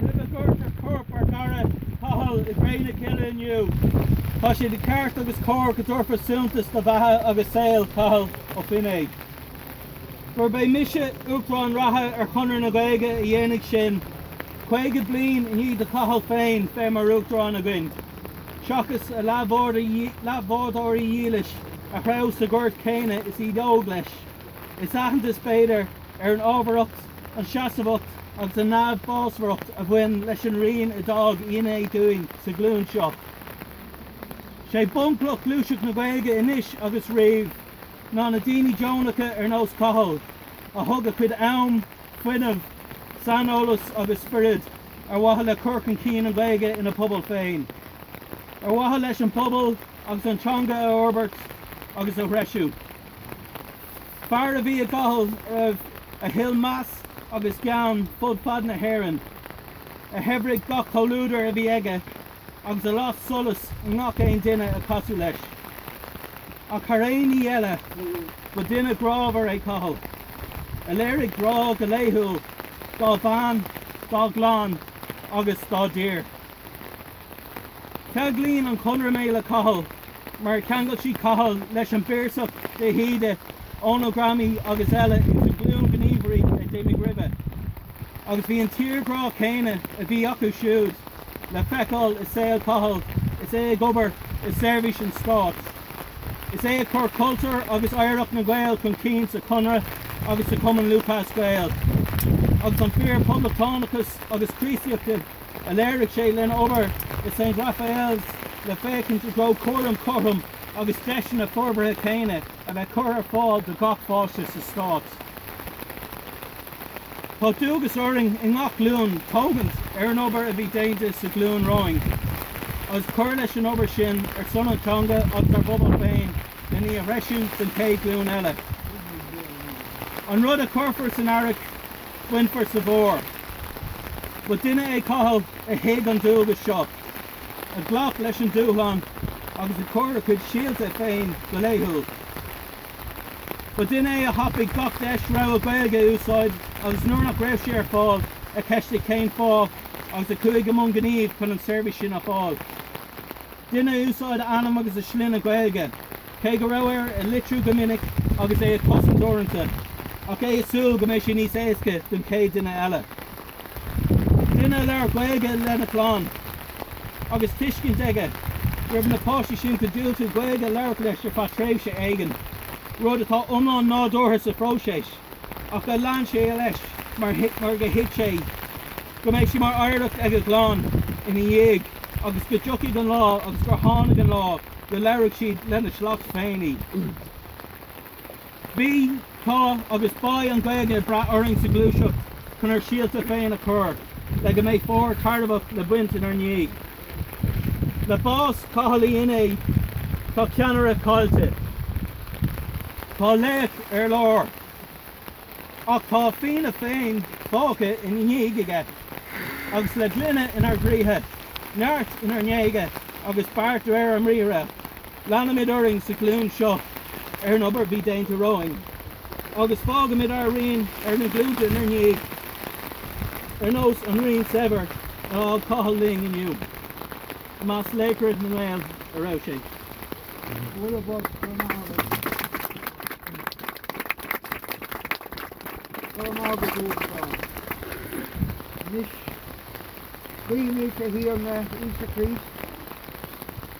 Roimh a gcuirtear corp ár gcara Cathal i gcré na cille inniu, tá sé de cheart agus cóir go dtabharfar suntas do bheatha agus saol Chathail Ó Feinneadha. Gurb é mise Uachtarán reatha ar Chonradh na Gaeilge a dhéanfaidh sin, 50 bliain i ndiaidh do Chathal féin bheith mar Uachtarán againn, seachas a leathbhádóirí dílis a threabh sa ghort céanna is iad óg leis. Is aitheantas, b'fhéidir, ar an ábharthacht, an seasamhacht agus an neamhbhásmhaireacht a bhain leis an rian a d'fhág ina dhiaidh dúinn sa ghlúin seo. 'Sé bunchloch ghluaiseacht na Gaeilge anois agus riamh ná na daoine deonacha ar nós Chathail a thug a chuid am, fuinneamh, saineolas agus spiorad ar mhaithe le cur chun cinn an Ghaeilge ina pobal féin, ar mhaithe leis an bpobal agus an teanga a fhorbairt agus a threisiú. Fear a bhí i gCathal riamh a thuill meas agus gean fud fad na hÉireann, a shaibhrigh gach comhluadar a bhí aige agus a las solas i ngach aon duine a casadh leis. Ach thar aon ní eile, ba duine grámhar é Cathal, a léirigh grá go laethúil dá bhean, dá gclann agus dá dtír. Ceanglaíonn an Conradh mé le Cathal mar a cheangail sí Cathal leis an bPiarsach, de hÍde, Eoghan Ó Gramhnaigh agus eile ins an ghlúin gníomhairí a d'imigh roimhe. Agus bhí an tírghrá céanna a bhí acu siúd le feiceáil i saol Chathail is é ag obair i seirbhís an Stáit. Is é ag cur cultúr agus oidhreacht na nGael chun cinn sa Chonradh agus sa Chumann Lúthchleas Gael. Agus an fíor-poblachtánachas agus Críostaíocht a léirigh sé lena obair i St Raphael's le féachaint i dtreo cúram cothrom agus deiseanna forbartha céanna a bheith curtha ar fáil do gach páiste sa stát. Tá dualgas orainn i ngach glúin tógaint ar an obair a bhí déanta sa ghlúin romhainn agus cur leis an obair sin ar son an teanga agus ár bpobal féin len í a threisiú don chéad ghlúin eile. An rud a chuirfear san earrach, Bainfear sa bhfómhar. Ba duine é Cathal a thuig an dualgas seo, a ghlac leis an dúshlán agus a chuir a chuid síolta féin go laethúil. Ba duine é a thapaigh gach deis rogha Gaeilge a úsáid agus nuair nach raibh sé ar fáil, a cheistigh cén fáth agus a chuaigh i mbun gnímh chun an tseirbhís sin a fháil. Duine a úsáid a ainm agus a shloinne Gaeilge, cé go raibh air a litriú go minic agus é a chosaint uaireanta, ach é ag súil go mbeidh sé níos éasca don chéad duine eile. Duine a labhair Gaeilge lena chlann, agus tuiscint aige go raibh na páistí sin chun diúltú Gaeilge a labhairt leis ar feadh tréimhse éigin, rud atá iomlán nádúrtha sa phróiseas. ach do lean sé leis mar gur thuig sé go mbeadh sé mar oidhreacht ag a gclann ina ndiaidh agus go dtiocfadh an lá agus gur tháinig an lá go labhródh siad lena sliocht féin í. Bhí, tá agus beidh an Ghaeilge ag brath orainn sa ghluaiseacht chun ár síolta féin a chur le go mbeidh fómhar tairbheach le baint inár ndiaidh. Le bás Chathail Uí Fheinneadha tá ceannaire caillte. Tá laoch ar lár. Ach tá Fianna féin fágtha ina dhiaidh aige agus le glaine inár gcroíthe, neart inár ngéaga agus beart de réir ár mbriathra. Leanfaimid orainn sa ghlúin seo ar an obair a bhí déanta romhainn agus fágfaimid ár rian ar na glúnta inár ndiaidh, ar nós an riain saibhir a fhág Cathal linn inniu. I measc laochra na nGael go raibh sé. Bualadh bog gur maith liom. Go raibh maith agat uasal. Anois, guímid ár dTiarna Íosa Críost.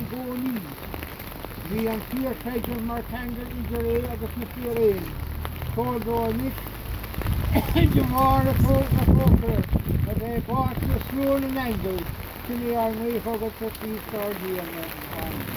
i gcónaí. Bhí an fíor-chreideamh mar cheangal idir é agus na fíréin. Tabhair dó anois, de bharr do thrócaire, a bheith páirteach i slua na n-aingeal, Sin é ár nguí chugat, a Chríost ár dTiarna. Amen.